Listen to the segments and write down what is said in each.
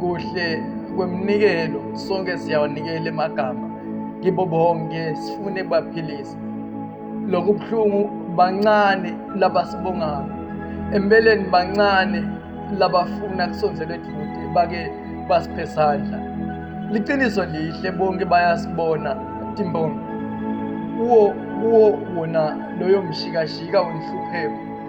kuhle kweminikelo sonke siyawanikela emagama kibo bonke sifune baphilise lokhu buhlungu bancane labasibongayo empeleni bancane labafuna kusondzela eduze bake basiphe sandla liqiniso lihle bonke bayasibona timbongi kuwo kuwo wona loyo mshikashika wenhlupheko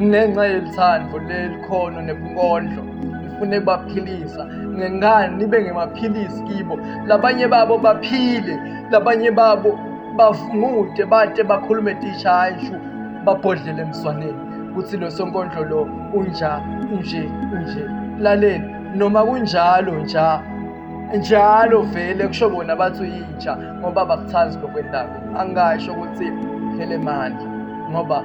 ngenxa yelithando lelikhono nebunkondlo ngifune kubaphilisa ngengani nibe ngemaphilisi kibo labanye babo baphile labanye babo bavungude bade bakhulume tisha hayi shu babhodlele emswaneni kuthi lo sonkondlo lo unja unje unje laleni noma kunjalo nja njalo vele kusho bona bathi uyintsha ngoba bakuthandi lokwendako angasho ukuthi phele manje ngoba